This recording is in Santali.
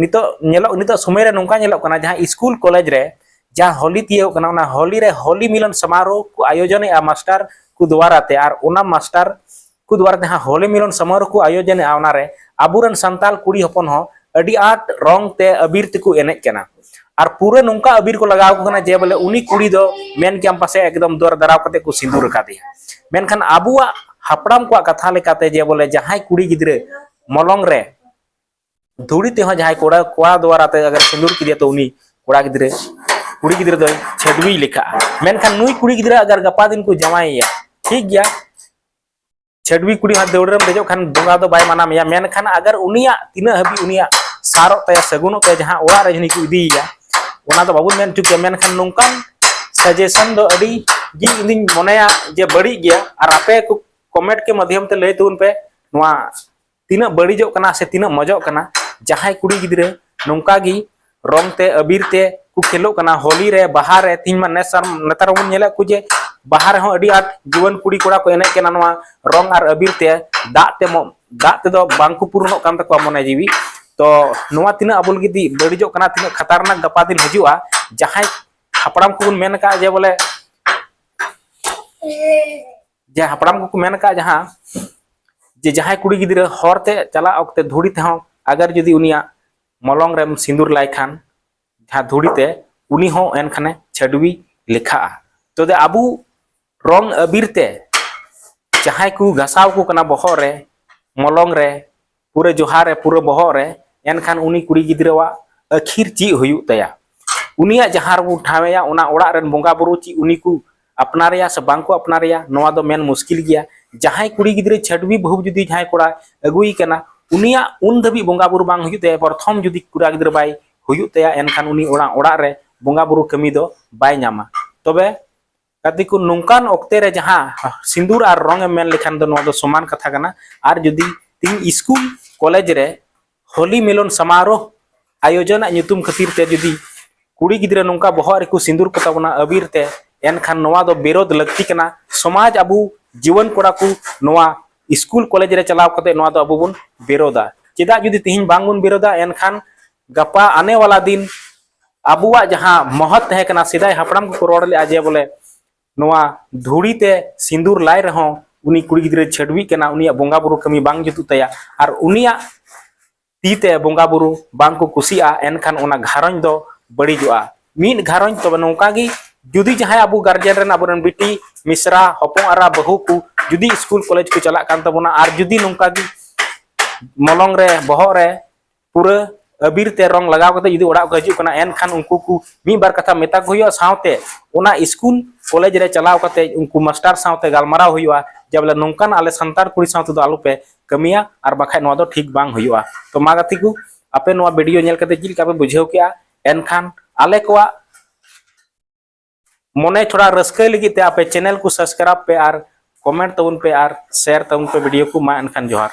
ᱱᱤᱛᱚᱜ ᱧᱮᱞᱚᱜ ᱱᱤᱛᱚᱜ ᱥᱚᱢᱚᱭ ᱨᱮ ᱱᱚᱝᱠᱟ ᱧᱮᱞᱚᱜ ᱠᱟᱱᱟ ᱡᱟᱦᱟᱸ ᱥᱠᱩᱞ ᱠᱚᱞᱮᱡᱽ ᱨᱮ ᱡᱟᱦᱟᱸ ᱦᱳᱞᱤ ᱛᱤᱭᱳᱜ ᱠᱟᱱᱟ ᱚᱱᱟ ᱦᱳᱞᱤ ᱨᱮ ᱦᱳᱞᱤ ᱢᱤᱞᱚᱱ ᱥᱚᱢᱟᱨᱳᱦ ᱠᱚ ᱟᱭᱳᱡᱚᱱᱮᱜᱼᱟ ᱢᱟᱥᱴᱟᱨ ᱠᱚ ᱫᱩᱣᱟᱨᱟ ᱛᱮ ᱟᱨ ᱚᱱᱟ ᱢᱟᱥᱴᱟᱨ ᱠᱚ ᱫᱩᱣᱟᱨᱟ ᱛᱮ ᱡᱟᱦᱟᱸ ᱦᱳᱞᱤ ᱢᱤᱞᱚᱱ ᱥᱚᱢᱟᱨᱳᱦ ᱠᱚ ᱟᱭᱳᱡᱚᱱᱮᱜᱼᱟ ᱚᱱᱟ ᱨᱮ ᱟᱵᱚᱨᱮᱱ ᱥᱟᱱᱛᱟᱲ ᱠᱩᱲᱤ ᱦᱚᱯᱚᱱ ᱦᱚᱸ ᱟᱹᱰᱤ ᱟᱸᱴ ᱨᱚᱝ ᱛᱮ ᱟᱵᱤᱨ ᱛᱮᱠᱚ ᱮᱱᱮᱡ ᱠᱟᱱᱟ ᱟᱨ ᱯᱩᱨᱟᱹ ᱱᱚᱝᱠᱟ ᱟᱵᱤᱨ ᱠᱚ ᱞᱟᱜᱟᱣ ᱠᱟᱱᱟ ᱡᱮ ᱵᱚᱞᱮ ᱩᱱᱤ ᱠᱩᱲᱤ ᱫᱚ ᱢᱮᱱ ᱠᱮᱭᱟᱢ ᱯᱟᱥᱮ ᱮᱠᱫᱚᱢ ᱫᱚᱨ ᱫᱟᱨᱟᱣ ᱠᱟᱛᱮ ᱠᱚ ᱥᱤᱸᱫᱩᱨ ᱟᱠᱟᱫᱮᱭᱟ ᱢᱮᱱᱠᱷᱟᱱ ᱟᱵᱚᱣᱟᱜ ᱦᱟᱯᱲᱟᱢ ᱠᱚᱣᱟᱜ ᱠᱟᱛᱷᱟ ᱞᱮᱠᱟᱛᱮ ᱡᱮ ᱵᱚᱞᱮ ᱡᱟᱦᱟᱸᱭ ᱠᱩᱲᱤ ᱜᱤᱫᱽᱨᱟᱹ ᱢᱚᱞᱚᱝ ᱨᱮ ᱫᱷᱩᱲᱤ ᱛᱮᱦᱚᱸ ᱡᱟᱦᱟᱸᱭ ᱠᱚᱲᱟ ᱠᱚᱲᱟ ᱫᱚᱣᱟᱨᱟ ᱛᱮ ᱟᱜᱟᱨ ᱥᱤᱸᱫᱩᱨ ᱠᱮᱫᱮᱭᱟ ᱛᱚ ᱩᱱᱤ ᱠᱚᱲᱟ ᱜᱤᱫᱽᱨᱟᱹ ᱠᱩᱲᱤ ᱜᱤᱫᱽᱨᱟᱹ ᱫᱚᱭ ᱪᱷᱟᱹᱰᱣᱤ ᱞᱮᱠᱷᱟᱜᱼᱟ ᱢᱮᱱᱠᱷᱟᱱ ᱱᱩᱭ ᱠᱩᱲᱤ ᱜᱤᱫᱽᱨᱟᱹ ᱟᱜᱟᱨ ᱜᱟᱯᱟ ᱫᱤᱱ ᱠᱚ ᱡᱟᱶᱟᱭᱮᱭᱟ ᱴᱷᱤᱠ ᱜᱮᱭᱟ ᱪᱷᱟᱹᱰᱣᱤ ᱠᱩᱲᱤ ᱦᱚᱸ ᱫᱟᱹᱣᱲᱟᱹ ᱨᱮᱢ ᱫᱮᱡᱚᱜ ᱠᱷᱟᱱ ᱵᱚᱸᱜᱟ ᱫᱚ ᱵᱟᱭ ᱢᱟᱱᱟ ᱢᱮᱭᱟ ᱢᱮᱱᱠᱷᱟᱱ ᱟᱜᱟᱨ ᱩᱱᱤᱭᱟᱜ ᱛᱤᱱᱟᱹᱜ ᱦᱟᱹᱵᱤᱡ ᱩᱱᱤᱭᱟᱜ ᱥᱟᱨᱚᱜ ᱛᱟᱭᱟ ᱥᱟᱹᱜᱩᱱᱚᱜ ᱛᱟᱭᱟ ᱡᱟᱦᱟᱸ ᱚᱲᱟᱜ ᱨᱮ ᱡᱟᱹᱱᱤ ᱠᱚ ᱤᱫᱤᱭᱮᱭᱟ ᱚᱱᱟ ᱫᱚ ᱵᱟᱵᱚᱱ ᱢᱮᱱ ᱦᱚᱪᱚ ᱠᱮᱭᱟ ᱢᱮᱱᱠᱷᱟᱱ ᱱᱚᱝᱠᱟᱱ ᱥᱟᱡᱮᱥᱚᱱ ᱫᱚ ᱟᱹᱰᱤ ᱜᱮ ᱤᱧᱫᱩᱧ ᱢᱚᱱᱮᱭᱟ ᱡᱮ ᱵᱟᱹᱲᱤᱡ ᱜᱮᱭᱟ ᱟᱨ ᱟᱯᱮ ᱠᱚ ᱠᱚᱢᱮᱱᱴ ᱠᱮ ᱢᱟᱫᱽᱫᱷᱚᱢ ᱛᱮ ᱞᱟᱹᱭ ᱛᱟᱵᱚᱱ ᱯᱮ ᱱᱚᱣᱟ ᱛᱤᱱᱟᱹᱜ ᱵᱟᱹᱲᱤᱡᱚᱜ ᱠᱟᱱᱟ ᱥᱮ ᱛᱤᱱᱟᱹᱜ ᱢᱚᱡᱚᱜ ᱠᱟᱱᱟ ᱡᱟᱦᱟᱸᱭ ᱠᱩᱲᱤ ᱜᱤᱫᱽᱨᱟᱹ ᱱᱚᱝᱠᱟ ᱜᱮ ᱨᱚᱝ ᱛᱮ ᱟᱵᱤᱨ ᱛᱮ ᱠᱚ ᱠᱷᱮᱞᱚᱜ ᱠᱟᱱᱟ ᱦᱳᱞᱤ ᱨᱮ ᱵᱟᱦᱟ ᱨᱮ ᱛᱤᱦᱤᱧ ᱢᱟ ᱱᱮᱥᱟᱨ ᱱᱮᱛᱟᱨ ᱵᱚᱱ ᱧᱮᱞᱮᱫ ᱠᱚ ᱡᱮ ᱵᱟᱦᱟ ᱨᱮᱦᱚᱸ ᱟᱹᱰᱤ ᱟᱸᱴ ᱡᱩᱣᱟᱹᱱ ᱠᱩᱲᱤ ᱠᱚᱲᱟ ᱠᱚ ᱮᱱᱮᱡ ᱠᱟᱱᱟ ᱱᱚᱣᱟ ᱨᱚᱝ ᱟᱨ ᱟᱵᱤᱨ ᱛᱮ ᱫᱟᱜ ᱛᱮ ᱫᱟᱜ ᱛᱮᱫᱚ ᱵᱟᱝ ᱠᱚ ᱯᱩᱨᱚᱱᱚᱜ ᱠᱟᱱ ᱛᱟᱠᱚᱣᱟ ᱢᱚᱱᱮ ᱡᱤᱣᱤ ᱛᱚ ᱱᱚᱣᱟ ᱛᱤᱱᱟᱹᱜ ᱟᱵᱚ ᱞᱟᱹᱜᱤᱫ ᱵᱟᱹᱲᱤᱡᱚᱜ ᱠᱟᱱᱟ ᱛᱤᱱᱟᱹᱜ ᱠᱷᱟᱛᱟᱨᱱᱟᱠ ᱜᱟᱯᱟ ᱫᱤᱱ ᱦᱤᱡᱩᱜᱼᱟ ᱡᱟᱦᱟᱸᱭ ᱦᱟᱯᱲᱟᱢ ᱠᱚᱵᱚᱱ ᱢᱮᱱ ᱟᱠᱟᱫᱼᱟ ᱡᱮ ᱵᱚᱞᱮ ᱡᱮ ᱦᱟᱯᱲᱟᱢ ᱠᱚᱠᱚ ᱢᱮᱱ ᱟᱠᱟᱫ ᱡᱟᱦᱟᱸ ᱡᱮ ᱡᱟᱦᱟᱸᱭ ᱠᱩᱲᱤ ᱜᱤᱫᱽᱨᱟᱹ ᱦᱚᱨ ᱛᱮ ᱪᱟᱞᱟᱜ ᱚᱠᱛᱮ ᱫᱷᱩᱲᱤ ᱛᱮᱦᱚᱸ ᱟᱜᱟᱨ ᱡᱩᱫᱤ ᱩᱱᱤᱭᱟᱜ ᱢᱚᱞᱚᱝ ᱨᱮᱢ ᱥᱤᱸᱫᱩᱨ ᱞᱟᱭ ᱠᱷᱟᱱ ᱡᱟᱦᱟᱸ ᱫᱷᱩᱲᱤ ᱛᱮ ᱩᱱᱤ ᱦᱚᱸ ᱮᱱᱠᱷᱟᱱᱮ ᱪᱷᱟᱹᱰᱣᱤ ᱞᱮᱠᱷᱟᱜᱼᱟ ᱛᱚᱵᱮ ᱟᱵᱚ ᱨᱚᱝ ᱟᱵᱤᱨ ᱛᱮ ᱡᱟᱦᱟᱸᱭ ᱠᱚ ᱜᱷᱟᱥᱟᱣ ᱠᱚ ᱠᱟᱱᱟ ᱵᱚᱦᱚᱜ ᱨᱮ ᱢᱚᱞᱚᱝ ᱨᱮ ᱯᱩᱨᱟᱹ ᱡᱚᱦᱟᱨ ᱮ ᱯᱩᱨᱟᱹ ᱵᱚᱦᱚᱜ ᱨᱮ ᱮᱱᱠᱷᱟᱱ ᱩᱱᱤ ᱠᱩᱲᱤ ᱜᱤᱫᱽᱨᱟᱹᱣᱟᱜ ᱟᱹᱠᱷᱤᱨ ᱪᱮᱫ ᱦᱩᱭᱩᱜ ᱛᱟᱭᱟ ᱩᱱᱤᱭᱟᱜ ᱡᱟᱦᱟᱸ ᱨᱮᱵᱚ ᱴᱷᱟᱶᱮᱭᱟ ᱚᱱᱟ ᱚᱲᱟᱜ ᱨᱮᱱ ᱵᱚᱸᱜᱟ ᱵᱩᱨᱩ ᱪᱮᱫ ᱩᱱᱤ ᱠᱚ ᱟᱯᱱᱟᱨᱮᱭᱟ ᱥᱮ ᱵᱟᱝ ᱠᱚ ᱟᱯᱱᱟᱨᱮᱭᱟ ᱱᱚᱣᱟ ᱫᱚ ᱢᱮᱱ ᱢᱩᱥᱠᱤᱞ ᱜᱮᱭᱟ ᱡᱟᱦᱟᱸᱭ ᱠᱩᱲᱤ ᱜᱤᱫᱽᱨᱟᱹ ᱪᱷᱟᱹᱰᱣᱤ ᱵᱟᱹᱦᱩ ᱡᱩᱫᱤ ᱡᱟᱦᱟᱸᱭ ᱠᱚᱲᱟ ᱟᱹᱜᱩᱭ ᱠᱟᱱᱟ ᱩᱱᱤᱭᱟᱜ ᱩᱱ ᱫᱷᱟᱹᱵᱤᱡ ᱵᱚᱸᱜᱟ ᱵᱩᱨᱩ ᱵᱟᱝ ᱦᱩᱭᱩᱜ ᱛᱟᱭᱟ ᱯᱨᱚᱛᱷᱚᱢ ᱡᱩᱫᱤ ᱠᱩᱲᱟ ᱜᱤᱫᱽᱨᱟᱹ ᱵᱟᱭ ᱦᱩᱭᱩᱜ ᱛᱟᱭᱟ ᱮᱱᱠᱷᱟᱱ ᱩᱱᱤ ᱚᱲᱟᱜ ᱚᱲᱟᱜ ᱨᱮ ᱵᱚᱸᱜᱟ ᱵᱩᱨᱩ ᱠᱟᱹᱢᱤ ᱫᱚ ᱵᱟᱭ ᱧᱟᱢᱟ ᱛᱚᱵᱮ ᱠᱟᱫᱤ ᱠᱚ ᱱᱚᱝᱠᱟᱱ ᱚᱠᱛᱮ ᱨᱮ ᱡᱟᱦᱟᱸ ᱥᱤᱸᱫᱩᱨ ᱟᱨ ᱨᱚᱝ ᱮᱢ ᱢᱮᱱ ᱞᱮᱠᱷᱟᱱ ᱫᱚ ᱱᱚᱣᱟ ᱫᱚ ᱥᱚᱢᱟᱱ ᱠᱟᱛᱷᱟ ᱠᱟᱱᱟ ᱟᱨ ᱡᱩᱫᱤ ᱛᱤᱧ ᱥᱠᱩᱞ ᱠᱚᱞᱮᱡᱽ ᱨᱮ ᱦᱳᱞᱤ ᱢᱤᱞᱚᱱ ᱥᱟᱢᱟᱨᱳᱦ ᱟᱭᱳᱡᱚᱱᱟᱜ ᱧᱩᱛᱩᱢ ᱠᱷᱟᱹᱛᱤᱨ ᱛᱮ ᱡᱩᱫᱤ ᱠᱩᱲᱤ ᱜᱤᱫᱽᱨᱟᱹ ᱱᱚᱝᱠᱟ ᱵᱚᱦᱚᱜ ᱨᱮᱠᱚ ᱥᱤᱸᱫᱩᱨ ᱠᱚ ᱛᱟᱵᱚᱱᱟ ᱟᱵᱤᱨ ᱛᱮ ᱮᱱᱠᱷᱟᱱ ᱱᱚᱣᱟ ᱫᱚ ᱵᱤᱨᱳᱫ ᱞᱟᱹᱠᱛᱤ ᱠᱟᱱᱟ ᱥᱚᱢᱟᱡᱽ ᱟᱵᱚ ᱡᱩᱣᱟᱹᱱ ᱠᱚᱲᱟ ᱠᱚ ᱱᱚᱣᱟ ᱥᱠᱩᱞ ᱠᱚᱞᱮᱡᱽ ᱨᱮ ᱪᱟᱞᱟᱣ ᱠᱟᱛᱮ ᱱᱚᱣᱟ ᱫᱚ ᱟᱵᱚ ᱵᱚᱱ ᱵᱤᱨᱳᱫᱟ ᱪᱮᱫᱟᱜ ᱡᱩᱫᱤ ᱛᱤᱦᱤᱧ ᱵᱟᱝ ᱵᱚᱱ ᱵᱤᱨᱳᱫᱟ ᱮᱱᱠᱷᱟᱱ ᱜᱟᱯᱟ ᱟᱱᱮ ᱣᱟᱞᱟ ᱫᱤᱱ ᱟᱵᱚᱣᱟᱜ ᱡᱟᱦᱟᱸ ᱢᱚᱦᱚᱛ ᱛᱟᱦᱮᱸ ᱠᱟᱱᱟ ᱥᱮᱫᱟᱭ ᱦᱟᱯᱲᱟᱢ ᱠᱚᱠᱚ ᱨᱚᱲ ᱞᱮᱫᱼᱟ ᱡᱮ ᱵᱚᱞᱮ ᱱᱚᱣᱟ ᱫᱷᱩᱲᱤ ᱛᱮ ᱥᱤᱸᱫᱩᱨ ᱞᱟᱭ ᱨᱮᱦᱚᱸ ᱩᱱᱤ ᱠᱩᱲᱤ ᱜᱤᱫᱽᱨᱟᱹ ᱪᱷᱟᱹᱰᱣᱤᱜ ᱠᱟᱱᱟ ᱩᱱᱤᱭᱟᱜ ᱵᱚᱸᱜᱟ ᱵᱩᱨᱩ ᱠᱟᱹᱢᱤ ᱵᱟᱝ ᱡᱩᱛᱩᱜ ᱛᱟᱭᱟ ᱟᱨ ᱩᱱᱤᱭᱟᱜ ᱛᱤ ᱛᱮ ᱵᱚᱸᱜᱟ ᱵᱩᱨᱩ ᱵᱟᱝ ᱠᱚ ᱠᱩᱥᱤᱜᱼᱟ ᱮᱱᱠᱷᱟᱱ ᱚᱱᱟ ᱜᱷᱟᱨᱚᱸᱡᱽ ᱫᱚ ᱵᱟᱹᱲᱤᱡᱚᱜᱼᱟ ᱢᱤᱫ ᱜᱷᱟᱨᱚᱸᱡᱽ ᱛᱚᱵᱮ ᱱᱚᱝᱠᱟ ᱜᱮ ᱡᱩᱫᱤ ᱡᱟᱦᱟᱸᱭ ᱟᱵᱚ ᱜᱟᱨᱡᱮᱱ ᱨᱮᱱ ᱟᱵᱚᱨᱮᱱ ᱵᱤᱴᱤ ᱢᱤᱥᱨᱟ ᱦᱚᱯᱚᱱ ᱟᱨᱟ ᱵᱟᱹᱦᱩ ᱠᱚ ᱡᱩᱫᱤ ᱥᱠᱩᱞ ᱠᱚᱞᱮᱡᱽ ᱠᱚ ᱪᱟᱞᱟᱜ ᱠᱟᱱ ᱛᱟᱵᱚᱱᱟ ᱟᱨ ᱡᱩᱫᱤ ᱱᱚᱝᱠᱟ ᱜᱮ ᱢᱚᱞᱚᱝ ᱨᱮ ᱵᱚᱦᱚᱜ ᱨᱮ ᱯᱩᱨᱟᱹ ᱟᱵᱤᱨ ᱛᱮ ᱨᱚᱝ ᱞᱟᱜᱟᱣ ᱠᱟᱛᱮ ᱡᱩᱫᱤ ᱚᱲᱟᱜ ᱠᱚ ᱦᱤᱡᱩᱜ ᱠᱟᱱᱟ ᱮᱱᱠᱷᱟᱱ ᱩᱱᱠᱩ ᱠᱚ ᱢᱤᱫ ᱵᱟᱨ ᱠᱟᱛᱷᱟ ᱢᱮᱛᱟ ᱠᱚ ᱦᱩᱭᱩᱜᱼᱟ ᱥᱟᱶᱛᱮ ᱚᱱᱟ ᱥᱠᱩᱞ ᱠᱚᱞᱮᱡᱽ ᱨᱮ ᱪᱟᱞᱟᱣ ᱠᱟᱛᱮ ᱩᱱᱠᱩ ᱢᱟᱥᱴᱟᱨ ᱥᱟᱶᱛᱮ ᱜᱟᱞᱢᱟᱨᱟᱣ ᱦᱩᱭᱩᱜᱼᱟ ᱡᱮ ᱵᱚᱞᱮ ᱱᱚᱝᱠᱟᱱ ᱟᱞᱮ ᱥᱟᱱᱛᱟᱲ ᱠᱩᱲᱤ ᱥᱟᱶᱛᱮ ᱫᱚ ᱟᱞᱚᱯᱮ ᱠᱟᱹᱢᱤᱭᱟ ᱟᱨ ᱵᱟᱠᱷᱟᱡ ᱱᱚᱣᱟ ᱫᱚ ᱴᱷᱤᱠ ᱵᱟᱝ ᱦᱩᱭᱩᱜᱼᱟ ᱛᱚ ᱢᱟ ᱜᱟᱛᱮ ᱠᱚ ᱟᱯᱮ ᱱᱚᱣᱟ ᱵᱷᱤᱰᱤᱭᱳ ᱧᱮᱞ ᱠᱟᱛᱮ ᱪᱮᱫ ᱞᱮᱠᱟ ᱯᱮ ᱵᱩᱡᱷᱟᱹᱣ ᱠᱮᱜᱼᱟ ᱮᱱᱠᱷᱟᱱ ᱟᱞᱮ ᱠᱚᱣᱟᱜ ᱢᱚᱱᱮ ᱛᱷᱚᱲᱟ ᱨᱟᱹᱥᱠᱟᱹᱭ ᱞᱟᱹᱜᱤᱫ ᱛᱮ ᱟᱯᱮ ᱪᱮᱱᱮᱞ ᱠᱚ ᱥᱟᱵᱥᱠᱨᱟᱭᱤᱵ ᱯᱮ ᱟᱨ ᱠᱚᱢᱮᱱᱴ ᱛᱟᱵᱚᱱ ᱯᱮ ᱟᱨ ᱥᱮᱭᱟᱨ ᱛᱟᱵᱚᱱ ᱯᱮ ᱵᱷᱤᱰᱤᱭᱳ ᱠᱚ ᱢᱟ ᱮᱱᱠᱷᱟᱱ ᱡᱚᱦᱟᱨ